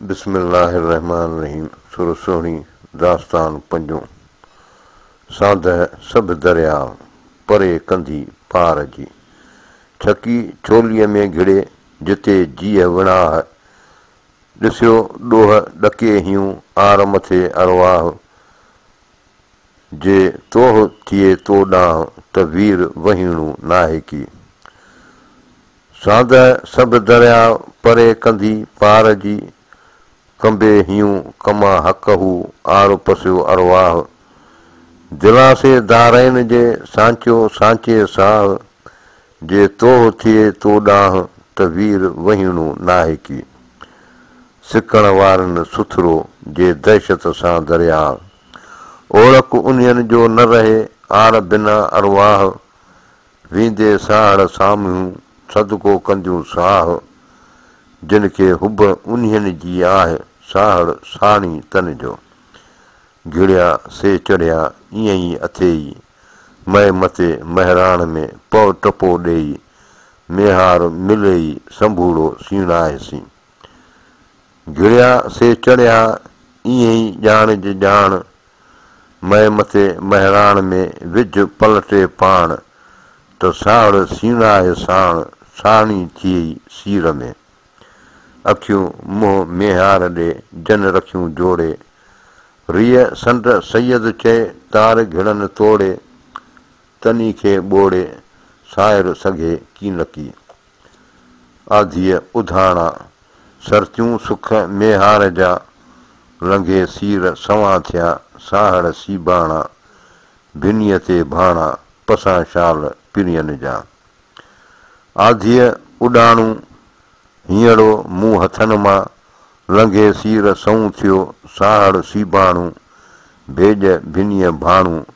بسم الله الرحمٰن الرحيم سر سهڻي داستان پنجون سانده سڀ درياء پري ڪنڌي پار جي ڇڪي ڇوليء ۾ گهڙي جتي جيء وڻاهه ڏسيو ڏوهه ڏڪي هيون آر مٿي ارواح جي توه ٿئي تو ڏانهن ته وير وهيڻو ناهي ڪي. ساندهه سڀ درياء پري ڪنڌي پار جي، ڪنبي هيون ڪما حق هو آر پسيو ارواح. دلاسي دارين جي سانچيو سانچي ساهه، جي توه ٿئي تو ڏانهن ته وير وهيڻو ناهي ڪي. سڪڻ وارن سٿرو جي دهشت سان درياهه. اوڙڪ انهين جو نه رهي عار بنا ارواح. ويندي ساهڙ سامهيون صدقو ڪنديون ساهه. جن کي حب انهين جي آهه ساهڙ ساڻي تن جو. گهڙيا سي چڙهيا ائين ئي اٿيئي. مئي متي مهراڻ ۾ پئو ٽپو ڏيئي. ميهار مليئي سنڀوڙو سيڻائيسين. گهڙيا سي چڙهيا ايئن ئي ڄاڻ جي ڄاڻ، مئي مٿي مهراڻ ۾، وجهه پلٽي پاڻ، ته ساهڙ سيڻائي ساڻ، ساڻي ٿئي سير ۾. اکيون منهن ميهار ڏي، جن رکيون جوڙي، ريء سنڊ سيد چئي، تار گهڙن توڙي، تني کي ٻوڙي، ساهر سگهي ڪينڪي. آڌيء اڌاڻا، سرتيون سک ميهار جا، لنگهي سير سنوان ٿيا، ساهڙ سيباڻا، ڀنيء تي ڀاڻا، پسان شال پرين جا. آڌيء اڏاڻو، هينئڙو مون هٿن مان، لنگهي سير سنوان ٿيو، ساهڙ سيباڻو، ڀيڄ ڀنيء ڀاڻو،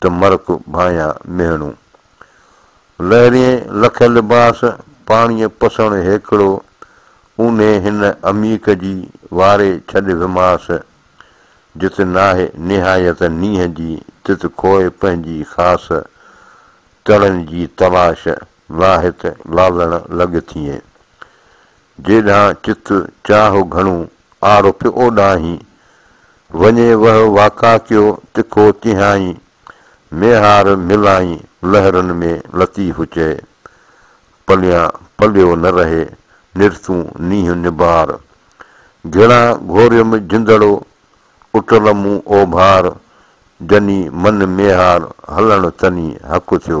ته مرڪ ڀانئيان مهڻون. لهرين لکيل لباس، پاڻيء پسڻ هيڪڙو، اونهي هن عميق جي واري ڇڏ وماس، جت ناهي نهايت نينهن جي، تت کوهه پنهنجي خاص، تڙن جي تلاش لاهت لالڻ لڳ ٿئين. جيڏانهن چت چاهه گهڻو آرو پيو اوڏانهين وڃي وه واڪا ڪيو تکو تيهانئين ميهار ملائين لهرن ۾ لطيف چئي پليان پليو نه رهي نرتون نينهن نبار گهڙا گهوريم جندڙو اٽل مون اوڀار جني من ميهار هلڻ تني حق ٿيو.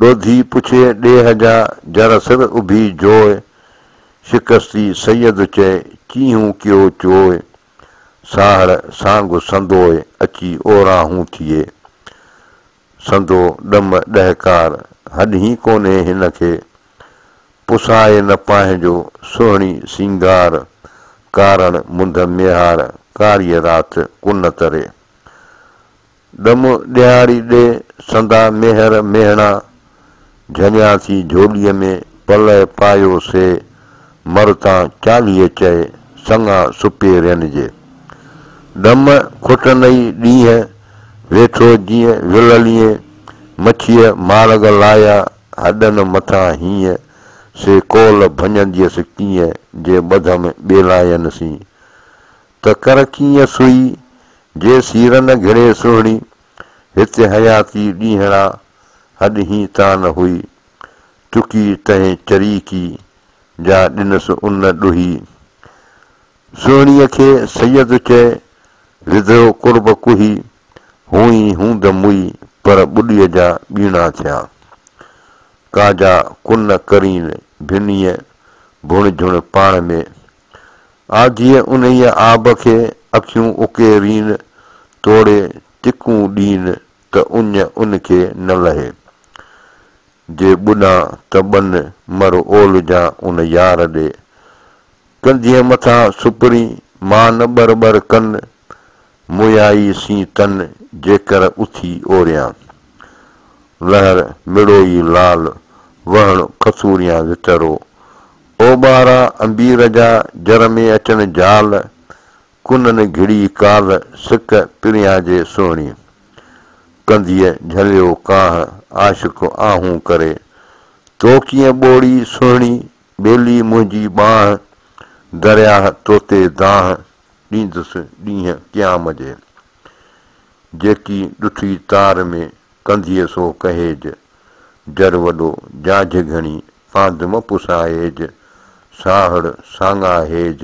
ڏوڌي پڇي ڏيهه جا جر سر اڀي جوء، شڪستي سيد چئي چينهون ڪيو چوء، ساهڙ سانگ سندوء اچي اوراهون ٿئي، سندو ڏم ڏهڪار هڏهين ڪونهي هن کي، پسائي نه پانهنجو سهڻي سينگار، ڪارڻ منڌ ميهار ڪاريء رات ڪن تري. ڏم ڏيهاڙي ڏي سندا ميهر ميهڻا، جهنيا ٿي جهوليء ۾ پلئه پايو سي، مر تان چاليهه چئي سڱا سپيرين جي. ڏم کوٽنئي ڏينهن ويٺو جيئن ولليين، مڇيء مارڳ لايا هڏن مٿان هينئن، سي ڪول ڀڃنديس ڪيئن جي ٻڌم ٻيلاين سين. ته ڪر ڪيئن سوئي، جي سير نه گهڙي سهڻي، هتي حياتي ڏينهڙا، هڏ هين تان هئي، چڪي تنهين چريڪي، جا ڏنس ان ڏوهي. سهڻيء کي سيد چئي، وڌيو قرب ڪوهي، هونئين هوند موئي، پر ٻڏيء جا ٻيڻا ٿيا. ڪا جا ڪن ڪرين ڀنيء، ڀڻ جهڻ پاڻ ۾، آء جيء انهيء آب کي اکيون اڪي رين، توڙي چڪون ڏين ته اڃ ان کي نه لهي. جي ٻڏان ته ٻن مر اول جان ان يار ڏي. ڪنڌيء مٿان سپرين، مان نه ٻر ٻر ڪن، مويائي سين تن جيڪر اٿي اوريان. لهر مڙوئي لال، وهڻ کٿوريان وترو، اوٻارا امبير جا جر ۾ اچڻ جال، ڪنن گهڙي ڪال سڪ پريان جي سهڻي. ڪنڌيء جهليو ڪانه عاشق آهون ڪري، تو ڪيئن ٻوڙي سهڻي ٻيلي منهنجي ٻانهه، درياهه توتي دانهه ڏيندس ڏينهن قيام جي، جيڪي ڏٺي تار ۾ ڪنڌيء سو ڪهيج، جر وڏو جاجهه گهڻي، پانڌ م پسائيج، ساهڙ ساڱا هيج،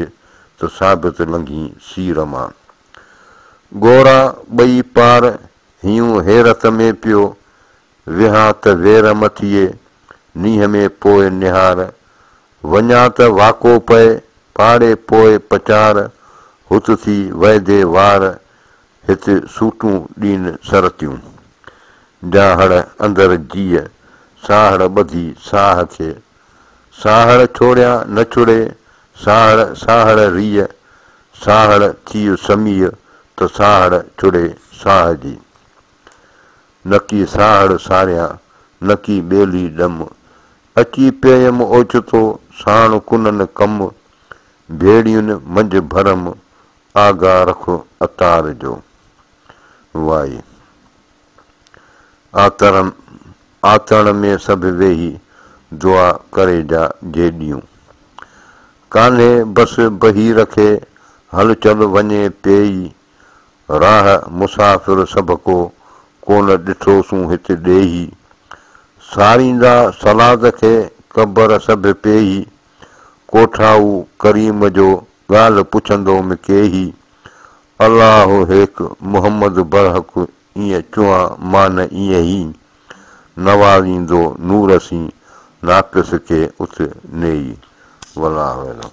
ته ثابت لنگهي سير مان. ڳورا ٻئي پار، هيون حيرت ۾ پيو، ويهان ته وير م ٿئي، نينهن ۾ پوء نهار، وڃان ته واڪو پئي، پاڙي پوء پچار، هت ٿي وئدي وار، هت سوٽون ڏين سرتيون. جاهڙ اندر جيء، ساهڙ ٻڌي ساهه کي. ساهڙ ڇوڙيا نه ڇڙي، ساهڙ ساهڙ ريء. ساهڙ ٿيء سميء، ته ساهڙ ڇڙي ساهه جي. نڪي ساهڙ ساريان، نڪي ٻيلي ڏم. اچي پيئم اوچتو، ساڻ ڪنن ڪم. ڀيڙين منجهه ڀرم، آغا رخ عطار جو وائي. آترم آتڻ ۾ سڀ ويهي دعا ڪري جا جي ڏيون. ڪانهي بس بهي رکي هل چل وڃي پيئي راهه مسافر سڀ ڪو ڪون ڏٺو سون هت ڏيهي. ساريندا سلاد کي قبر سڀ پيهي ڪوٺائو ڪريم جو ڳالهه پڇندو م ڪيهي، الله هيڪ محمد برحق ايئن چوهان مان ايئن هي، نوازيندو نور سين ناقص کي اٿ نيئي. والله اعلم.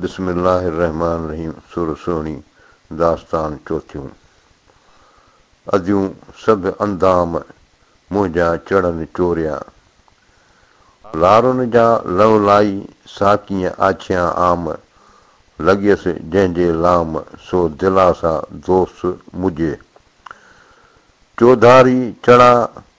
بسم الله الرحمٰن الرحيم سر سهڻي داستان چوٿيون اديون سڀ اندام منهنجا چڙن چوريا لارن جا لولائي ساقيء آڇيان عام لڳيس جنهن جي لام سو دلاسا دوست مجهي چوڌاري چڙا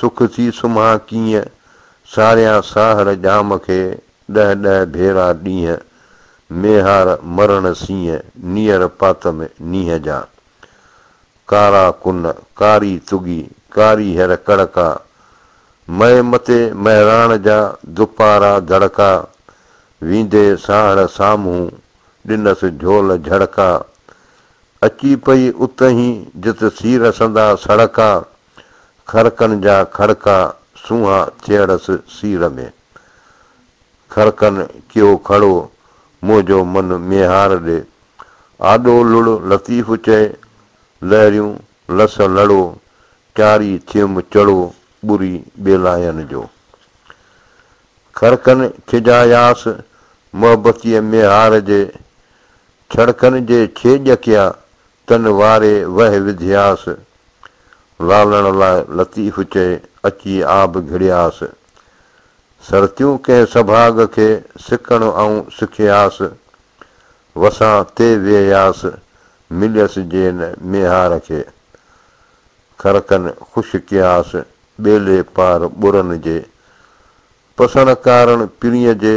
سک ٿي سمهان ڪيئن، ساريان ساهر ڄام کي، ڏهه ڏهه ڀيرا ڏينهن، ميهار مرڻ سينهن، نيئر پات ۾ نينهن جا. ڪارا ڪن، ڪاري تڳي، ڪاري هير ڪڙڪا، مئي متي مهراڻ جا، دپارا دڙڪا، ويندي ساهڙ سامهون، ڏنس جهول جهڙڪا، اچي پئي اتهين، جت سير سندا سڙڪا. کڙڪن جا کڙڪا سونهان ٿيئڙس سيڙهه ۾. کڙڪن ڪيو کڙو منهنجو من ميهار ڏي. آڏو لڙ لطيف چئي لهريون لس لڙو چاري ٿيم چڙو ٻري ٻيلاين جو. کڙڪن کجاياس محبتيء ميهار جي. ڇڙڪن جي ڇيڄ ڪيا تن واري وهه وڌياس، لالڻ لاء لطيف چئي، اچي آء به گهڙياس. سرتيون ڪنهن سڀاڳ کي، سڪڻ آئون سکياس. وسان تي ويهياس، مليس جين ميهار کي. کرڪن خوش ڪياس، ٻيلي پار ٻرن جي. پسڻ ڪارڻ پرينء جي،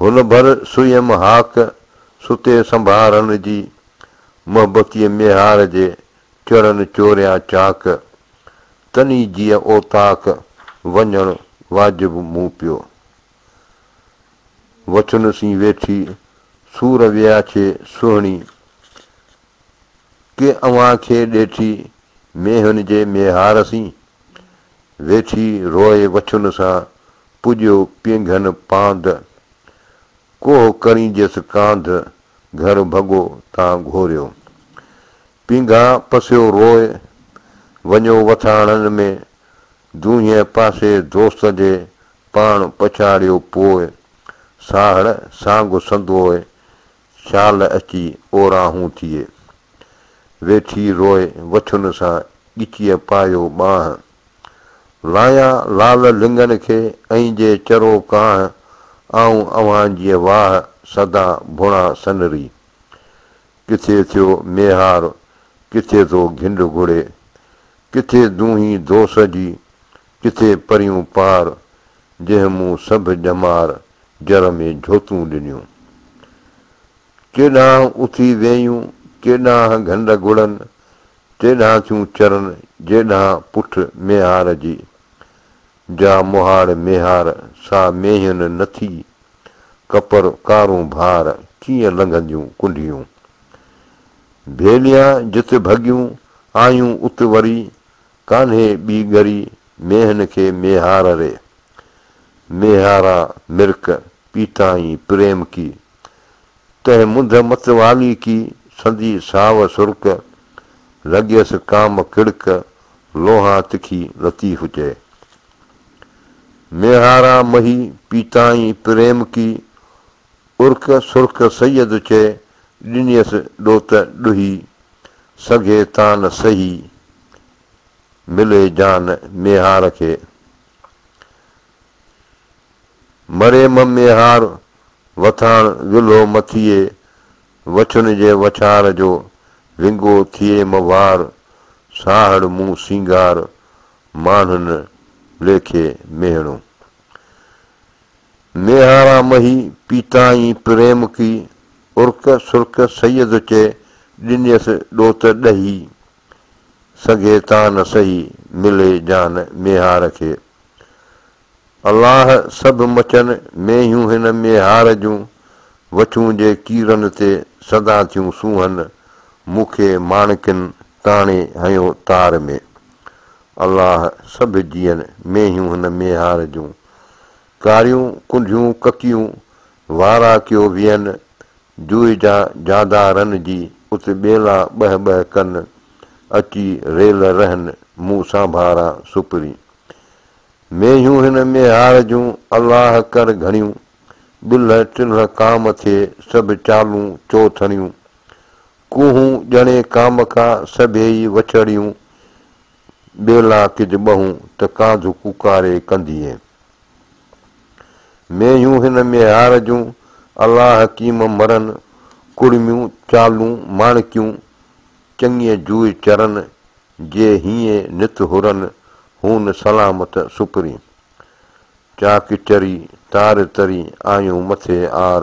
هن ڀر سويم هاڪ ستي سنڀارن جي، محبتيء ميهار جي چڙن چوريان چاڪ، تني جيء اوطاق وڃڻ واجب مون پيو. وڇن سين ويٺي سور وياڇي سهڻي، ڪي اوهان کي ڏيٺي مينهن جي ميهار سين، ويٺي روئي وڇن سان پڄيو پينگهن پانڌ، ڪوهه ڪرينجس ڪانڌ، گهر ڀڳو تان گهوريو. پينگها پسيو روء، وڃيو وٿاڻن ۾، دونهين پاسي دوست جي، پاڻ پڇاڙيو پوء، ساهڙ سانگ سندوء، شال اچي اوراهون ٿئي. ويٺي روئي وڇن سان ڳچيء پايو ٻانهه. لايان لال لڱن کي ۽ جي چرو ڪانه آئون اوهان جيء واهه سدا ڀڻا سنري. ڪٿي ٿيو ميهار ڪٿي ٿو گهنڊ گهڙي. ڪٿي دونهي دوس جي ڪٿي پريون پار جنهن مون سڀ ڄمار جر ۾ جهوتون ڏنيون. ڪيڏانهن اٿي ويئيون، ڪيڏانهن گهنڊ گهڙن، تيڏانهن ٿيون چرن، جيڏانهن پٺ ميهار جي. جا مهاڙ ميهار، سا مينهين نه ٿي، ڪپر ڪارون ڀار، ڪيئن لنگهنديون ڪنڍيون. ڀيليان جت ڀڳيون، آيون ات وري، ڪانهي ٻي ڳري مينهن کي ميهار ري. ميهارا مرڪ پيتائين پريم ڪي. تنهن منڌ متوالي ڪي سندي ساو سرڪ. لڳيس ڪام ڪڙڪ لونها تکي لطيف چئي. ميهارا مهي پيتائين پريم ڪي ارڪ سرخ سيد چئي، ڏنيس ڏوت ڏوهي، سگهي تان سهي، ملي جان ميهار کي. مريم ميهار وٿاڻ ولهو مٿيئي، وڇن جي وڇار جو، ونگو ٿئي مهوار، ساهڙ مون سينگار، ماڻهن ليکي ميهڻو. ميهارا مهي پيتائين پريم ڪي، ارڪ سرڪ سيد چئي، ڏنيس ڏوت ڏهي. سگهي تان سهي، ملي جان ميهار کي. الله سڀ مچن، مينهيون هن ميهار جون، وڇون جي ڪيرن تي، سدا ٿيون سونهن. مون کي ماڻڪين، تاڻي هنيو تار ۾. الله سڀ جيئن مينهيون هن ميهار جون، ڪاريون ڪنڍيون ڪڪيون وارا ڪيو وين، جوئي جا جادا رن جي ات ٻيلا ٻهه ٻهه ڪن، اچي ريل رهن مون سانڀارا سپرين. مينهيون هن ميهار جون، الله ڪر گهڻيون، ٻلهه ٽلهه ڪام ٿئي سڀ چالون چوٿڻيون، ڪوهون ڄڻي ڪامڪا سڀيئي وڇڙيون ٻيلا ڪج ٻهون ته ڪانڌ ڪوڪاري ڪنديئين مينهيون هن ميهار جون الله حڪيم مرن ڪڙميون چالون ماڻڪيون چڱيء جوء چرن جي هيئين نت هرن هون سلامت سپري چاڪ چري تار تري آيون مٿي آر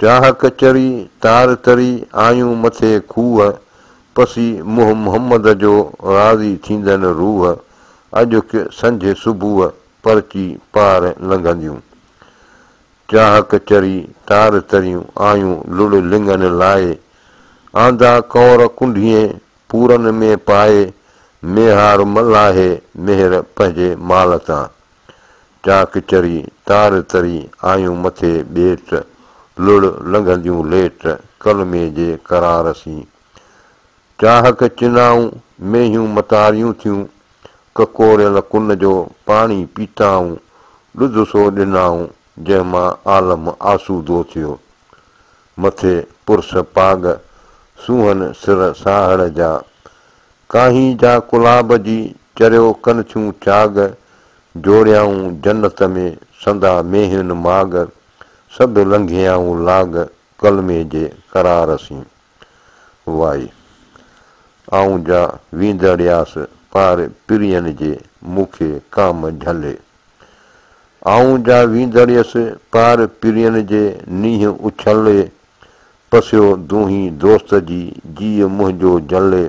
چاهڪ چڙهي تار تري آيون مٿي کوهه، پسي منهن محمد جو راضي ٿيندن روح، اجهڪ سنجهه صبح پرچي پار لنگهنديون. چاهڪ چري تار تريون آيون لڙ لڱن لائي، آندا ڪؤر ڪنڍين پورن ۾ پائي، ميهار ملاهي مهر پنهنجي مال تان. چاڪ چري، تار تري، آيون مٿي ٻيٽ، لڙ، لنگهنديون ليٽ، ڪلمي جي قرار سين. چاهڪ چنائون، مينهيون متاريون ٿيون، ڪڪوريل ڪن جو پاڻي پيتائون، ڏڌ سو ڏنائون، جنهن مان عالم آسودو ٿيو. مٿي پرس پاڳ، سونهن سر ساهڙ جا، ڪاهي جا ڪلاب جي چريو ڪن ٿيون چاڳ، جوڙيائون جنت ۾ سندا مينهين ماڳ، سڀ لنگهيائون لاڳ ڪلمي جي قرار سين. وائي. آئون جا ويندڙياس پار پرين جي مون کي ڪام جهلي. آئون جا ويندڙيس پار پرين جي نينهن اڇلي، پسيو دونهي دوست جي جيء منهنجو جلي.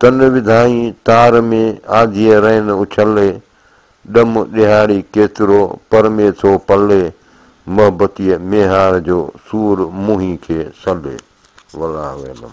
تن وڌائين تار ۾ آڌيء رئن اڇلي. ڏم ڏيهاڙي ڪيترو پرمي ٿو پلي. محبتيء ميهار جو سور منهين کي سلي. والله اعلم.